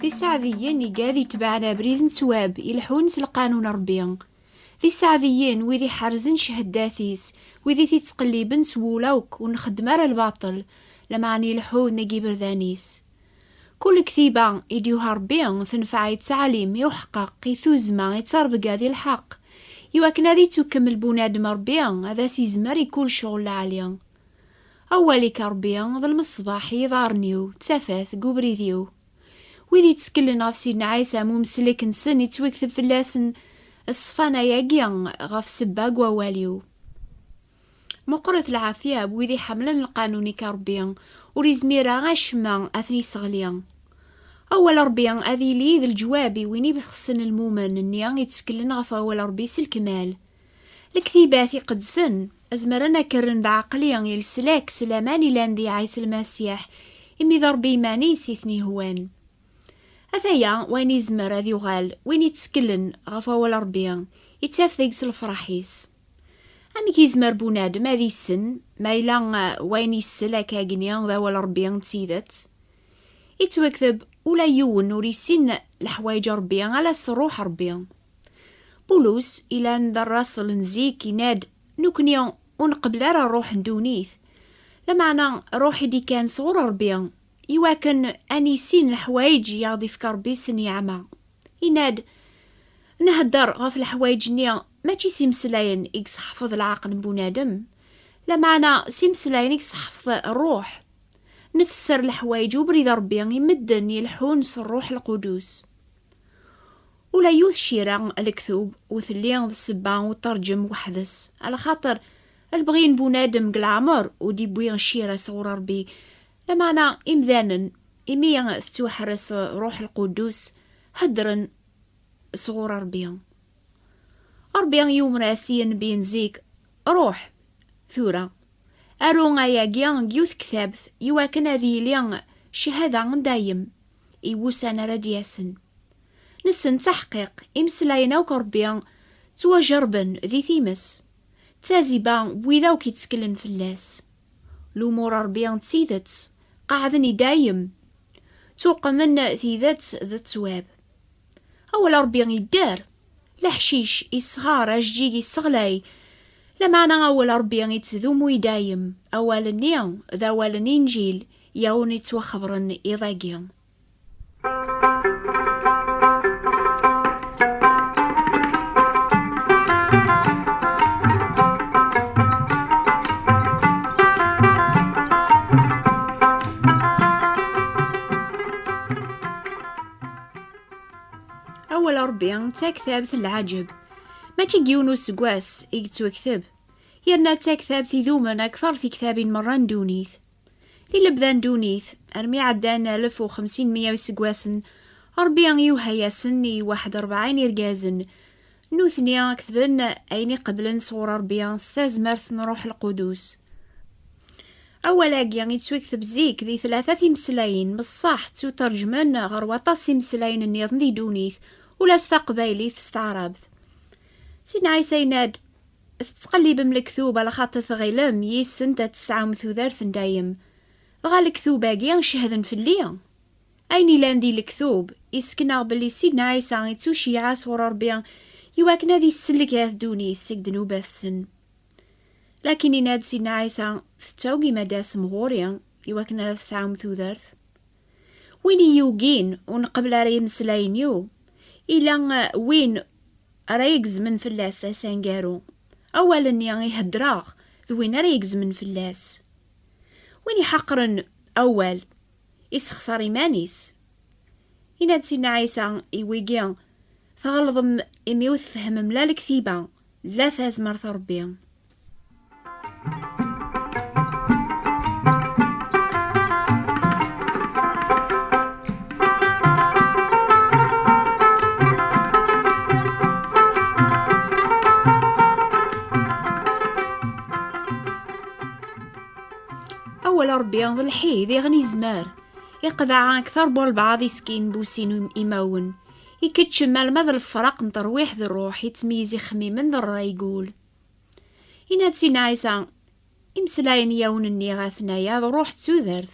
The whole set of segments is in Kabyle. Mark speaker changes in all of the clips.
Speaker 1: Tisaɛdiyen igad itebɛen abrid n swab, ileḥḥun s lqanun n Ṛebbi. Tisaɛdiyen, wid iḥerzen ceheddat-is, wid i t-ittqelliben s wul akk, ur nxeddem ara lbaṭel, lameɛna ileḥḥu nnig iberdan-is. Kul ktiba i d-yuha Rebbi tenfeɛ i ttɛalim, i uḥeqqeq, i tuzma, i ttarbga di lḥeq. I wakken ad ittukkemel bunadem Rebbi ad as-izmer i kul cɣel lɛali. Awal-ik a Rebbi d lmeṣbaḥ i yiḍarren-iw, d tafat deg ubrid-iw. Wid itteklen ɣef Sidna Ɛisa am umeslek-nsen ittwekteb fell-asen ṣṣfan-agi ɣef sebba deg wawal-iw. Meqqret lɛafya n wid iḥemmlen lqanun-ik a Ṛebbi, ur izmir ara acemma ad ten-isseɣli. Awal n Ṛebbi ad yili d leǧwab i win ibexsen lmumen-nni ittekklen ɣef awal n Ṛebbi s lkmal. Lektibat iqedsen zemren ad k-rren d aɛeqli i leslak s laman ilan di Ɛisa Lmasiḥ, imi d Ṛebbi iman-is i ten-ihwan. Ataya wayen izmer ad yuɣal win ittekklen ɣef awal n Ṛebbi, ittaf deg-s lefṛaḥ-is. Amek yezmer bunadem ad issen ma yella eh, wayen yessel akkagni d awal Rebbi d tidet? Ittwakteb ula yiwen ur issin leḥwayeǧ Rebbi ala s Ṛuḥ Ṛebbi. Bulus ilan d rraṣel n zik yenna-d Nekni ur nqebbel ara ṛuḥ n ddunit, lameɛna ṛuḥ i d-ikkan sɣur Ṛebbi, Iwakken ad nissin leḥwayeǧ i aɣ-d-ifka Ṛebbi s nniɛma, yenna-d, Nheddeṛ ɣef leḥwayeǧ-nni mačči s imeslayen i yesseḥfeḍ leɛqel n bunadem, lameɛna s imeslayen i yesseḥfeḍ Ṛṛuḥ. Nfesser leḥwayeǧ ubrid n Ṛebbi i medden ileḥḥun s Ṛṛuḥ Lqudus. Ula yiwet cira n lektub ur telli d ssebba ur tterǧem weḥd-s, ala xaṭer lebɣi n bunadem deg leɛmeṛ ur d-iwwi cira sɣur Ṛebbi Lameɛna imdanen, imi tettwaḥres Ṛuḥ Lqudus, heddren sɣur Ṛebbi. Ṛebbi yumer-as i yenbiy n zik, Ṛuḥ, tura, aru ayagi deg yiwet n ktabt, i wakken ad yili cchada n dayem i wussan ara d-yasen. Nessen d aḥqiq, imeslayen akk n Ṛebbi ttwajerrben di times, d taziba n wid akk itteklen fell-as. Lumuṛ Ṛebbi d tidet, qeɛɛden i dayem, ttuqmen tidet d ttwab. Awal Ṛebbi idder, leḥcic isɣer, ajeǧǧig isseɣlay. Lameɛna awal Ṛebbi ittdumu i dayem, awal-nni d awal n Inǧil i awen-ittwaxebren iḍ-agi. d taktabt n lɛaǧeb. Mačči n yiwen useggas i yettwekteb, yerna d taktabt idumen akteṛ tiktabin meṛṛa n ddunit. I lebda n dunit, armi ɛeddan alef u xemsin meyya iseggasen, Ṛebbi iwehha-yasen i waḥed ṛebɛin irgazen. Nutni ketben ayen i qeblen sɣur Ṛebbi s tazmert n Ṛuḥ Lqudus. Awal-agi yettwekteb zik di tlata timeslayin, messeḥ ttuterǧmen ɣer waṭas n yimeslayen nniḍen di dunit, ula s taqbaylit s taɛrabt. Sidna Ɛisa yenna-d, Tettqellibem lektub ala xaṭi tɣilem yis-sent ad tesɛum tudert n dayem. Dɣa lektub-agi cehden fell-i? Ayen ilan di lektub, isken-aɣ belli Sidna Ɛisa ittuceyyeɛ sɣur Rebbi i wakken ad isellek at ddunit seg ddnubat-sen. Lakin yenna-d Sidna Ɛisa, Tettawgim ad d-tasem ɣur-i i wakken ara tesɛum tudert? Win i yugin ur neqbel ara imeslayen-iw, ila win ara igezmen fell-as asangaru. Awal-nni i heddreɣ d win ara igezmen fell-as. Win iḥaqren awal, isexṣer iman-is. Ina-d Sidna Ɛisa i wigi, Tɣelḍem imi ur tfehmem la lektiba, la tazmert n Rebbi. d lḥid iɣen izmer iqedaɛa aktar bu lbaɛḍ iskin busin imawen ikeččem alma d lefraq n terwiḥ d ṛṛuḥ ittmeyyiz ixemmimen d ṛṛay gul Inna-d si Ɛisa, imeslayen i awen-nniɣ atnaya d ruḥ d tudert.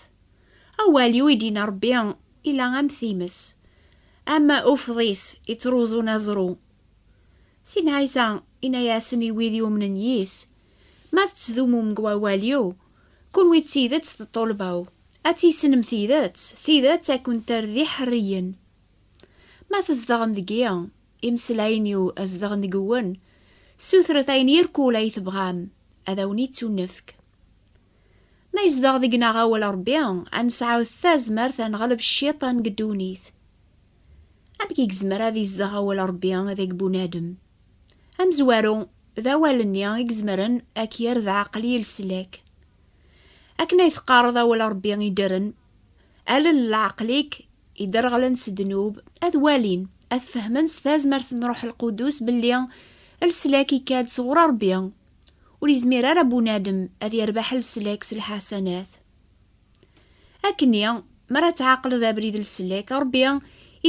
Speaker 1: Awal yu i d-inna Rebbi ila am times, am ufḍis ittruẓun aẓru. Si Ɛisa inna-yasen i wid yumnen yis, Ma tettdumum deg wawal-iw, kunwi d tidet d ṭṭulba-w, ad tissnem tidet, tidet ad kent-terr d iḥerriyen. Ma tzedɣem deg-i, Imeslayen-iw zedɣen deg-wen, sutret ayen irkul ay tebɣam, ad awen-ittunefk. Ma yezdeɣ deg-neɣ awal Rebbi, ad nesɛu tazmert ad neɣleb cciṭan deg ddunit. Amek i yezmer ad izdeɣ awal Rebbi deg bunadem? Amezwaru, d awal-nni i izemren ad k-yerr d aɛaqel i leslak. Akken ay teqqareḍ awal Rebbi iddren, Allen n leɛqel-ik iderɣlen s ddnub ad walin, ad fehmen s tazmert n Ṛuḥ Lqudus belli leslak ikka-d sɣur Ṛebbi. Ur yezmir ara bunadem ad yerbeḥ leslak s lḥasanat. Akkenni, mi ara tɛaqleḍ abrid n leslak, Ṛebbi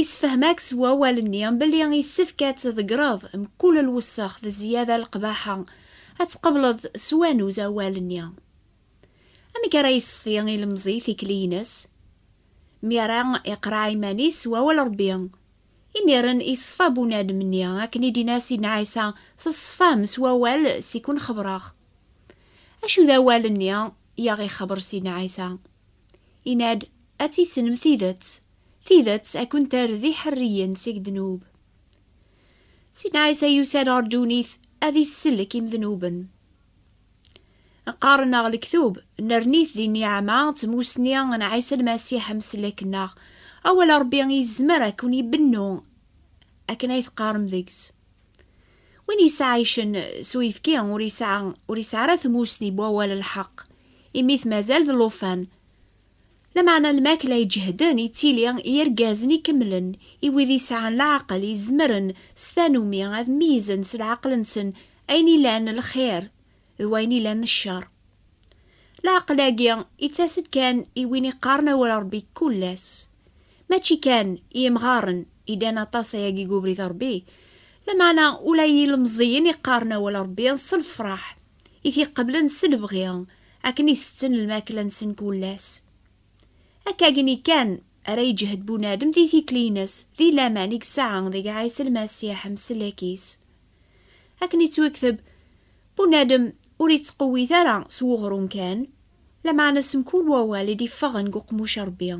Speaker 1: issefhem-ak s wawal-nni belli yessefk ad tḍeggreḍ mkul lwessex d zziyada n leqbaḥa, ad tqebleḍ s wanuz awal-nni. Amek ara yesfi ilemẓi tikli-ines? Mi ara iqraɛ iman-is s wawal Ṛebbi, imiren iṣfa bunadem-nni, akken i d-inna Sidna Ɛisa, Teṣfam s wawal s i kun-xebreɣ. Acu d awal-nni i aɣ-ixebber Sidna Ɛisa? Inna-d, Ad tissnem tidet, tidet a kun-terr d iḥerriyen seg ddnub. Sidna Ɛisa yusa-d ɣer ddunit ad isellek imednuben. Qqaren-aɣ lektub, nerni-t di nniɛama d tmussni n Ɛisa Lmasiḥ ameslak-nneɣ. Awal n Ṛebbi yezmer ad ken-ibennu akken ay teqqarem deg-s. Win yesɛaycen s uyefki ur yesɛi ara tmussni n wawal n lḥeqq, imi-t mazal d llufan. Lameɛna lmakla iǧehden i tili i yirgazen ikemlen, i wid yesɛan leɛqel izemren s tanumi ad meyyzen s leɛqel-nsen ayen ilan lxir d wayen ilan ccer. Leɛqel-agi ittas-d kan i win iqqaren awal Rebbi kul ass. Mačči kan i yemɣaren idan aṭas ayagi deg ubrid Rebbi, lameɛna ula i yilemẓiyen iqqaren awal Rebbi s lefraḥ i t-iqeblen s lebɣi, akken i tetten lmakla-nsen kul ass. Akkagni kan ara yeǧhed bunadem di tikli-ines, di laman i yesɛa deg Ɛisa Lmasiḥ, Mselek-is. Akken yettwekteb, bunadem ur yettqewwit ara s weɣrum kan, lameɛna s mkul wawal i d-iffeɣen deg uqmuc n Rebbi.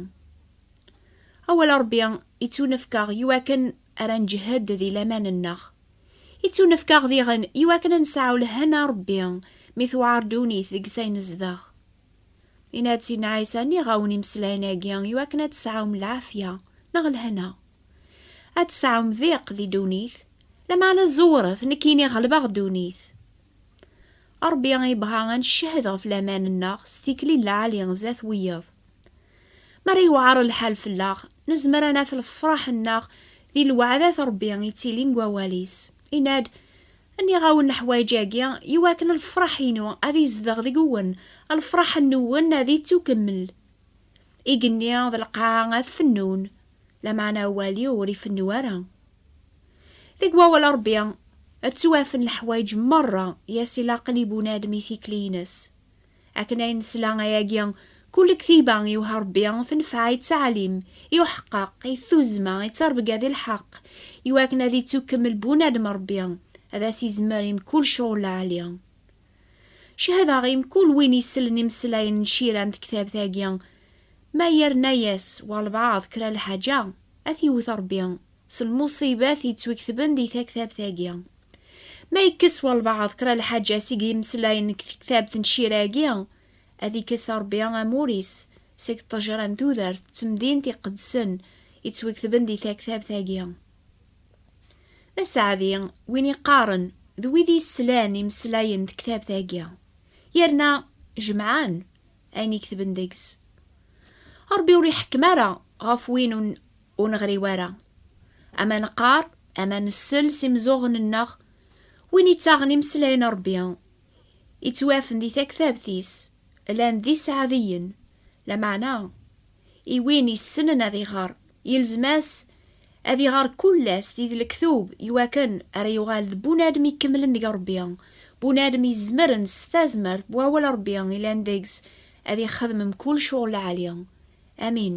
Speaker 1: Awal n Rebbi yettunefk-aɣ i wakken ara nǧehhed di laman-nneɣ. Ittunefk-aɣ diɣen i wakken ad nesɛu lehna Rebbi mi tewɛer ddunit deg s ay nezdeɣ. Yenna-d Sidna Ɛisa nniɣ-awen imeslayen-agi i wakken ad tesɛum lɛafya neɣ lehna. Ad tesɛum diq di ddunit, lameɛna ẓewret, nekkini ɣelbeɣ ddunit. Ṛebbi yebɣa ad ncehhed ɣef laman-nneɣ s tikli n lɛali zdat wiyaḍ. Mi ara yewɛer lḥal fell-aɣ, nezmer ad naf lefṛaḥ-nneɣ di lweɛdat n Ṛebbi yettilin deg Wawal-is. Yenna-d, Nniɣ-awen leḥwayeǧ-agi, i wakken lefṛaḥ-inu ad izdeɣ deg-wen, lefṛaḥ-nwen ad ittukemmel. Igenni d lqaɛa ad fennun, Lameɛna awal-iw ur ifennu ara. Deg wawal n Ṛebbi ad ttwafen leḥwayeǧ meṛṛa i as-ilaqen i bunadem i tikli-ines. Akken ay nesla ayagi, kul lektiba i iwehha Ṛebbi tenfeɛ i ttɛalim, i uḥeqqeq, i tuzma, i ttṛebga di lḥeqq, i wakken ad ittukkemmel bunadem Ṛebbi, ad as-izmer i mkul cɣel lɛali. Cehdeɣ i mkul win isellen imeslayen n Cira n tektabt-agi, ma yerna-yas walbaɛḍ kra lḥaǧa, ad t-iwwet Rebbi s lmuṣibat yettweketben di taktabt-agi. Ma yekkes walbaɛḍ kra lḥaǧa seg yimeslayen n tektabt n Cira-agi, ad ikkes Rebbi amur-is seg ṭṭejra n tudert d temdint iqedsen yettweketben di taktabt-agi. D aseɛdi win iqqaren d wid yeslan imeslayen tektabt-agi, yerna jemɛen ayen i ketben deg-s. Ṛebbi ur iḥekkem ara ɣef win ur neɣri wara. Ama neqqar, ama nsell s imeẓẓuɣen-nneɣ, win ittaɣen imeslayen n Ṛebbi, ittwafen di taktabt-is. llan d iseɛdiyen, lameɛna i win yessnen ad iɣer, yelzem-as ad iɣer kull ass di d lektub i wakken ara yuɣal d bunadem ikemlen deg Rebbi, bunadem izemren s tazmert n wawal Rebbi yellan deg-s ad ixedmem kullec ɣur lɛali. Amin.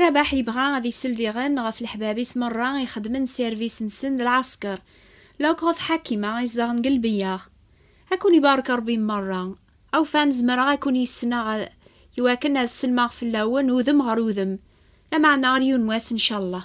Speaker 1: Rabaḥ yebɣa ad isel diɣen ɣef leḥbab-is merra i xedmen sirvis-nsen d lɛesker, lok ɣef Ḥakima i zedɣen deg lbeyyeɣ. A kun-ibarek Rebbi merra! Awfan zemreɣ a kun-yesneɣ a iwakken ad sellmeɣ fell-awen udem ɣer udem, lameɛna ɣer yiwen wass ncallah.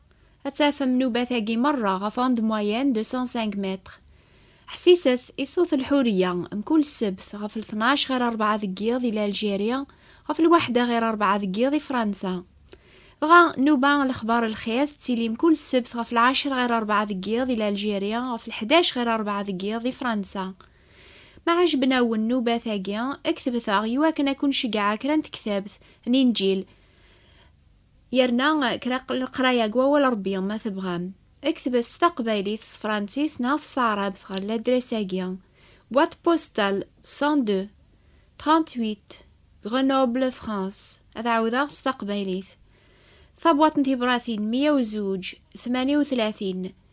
Speaker 1: Ad tafem nnubat-agi merra ɣef onde moyenne de 105 mètres. Ḥsiset i ṣṣut n lḥuriya, mkul ssebt ɣef lṭnac ɣir rebɛa deg yiḍ i Lalgeri, ɣef lwaḥda ɣir rebɛa deg yiḍ i Fransa. Dɣa, nnuba n lexbar n lxir tettili mkul ssebt ɣef lɛecra ɣir rebɛa deg yiḍ i Lalgeri, ɣef lḥdac ɣir rebɛa deg yiḍ i Fransa. Ma ɛejben-awen nnubat-agi, ktbet-aɣ iwakken ad ken-ceggɛeɣ kra n tektabt, n inǧil, Yerna kra n leqraya deg wawal Rebbi ma tebɣam ad kektbet s taqbaylit, s tefransis neɣ s taɛrabt ɣer ladres-agi, Boîte postale 102 38 Grenoble France, ad ɛawdeɣ s taqbaylit, Tabwaṭ n tibratin meyya u zuǧ tmanya u tlatin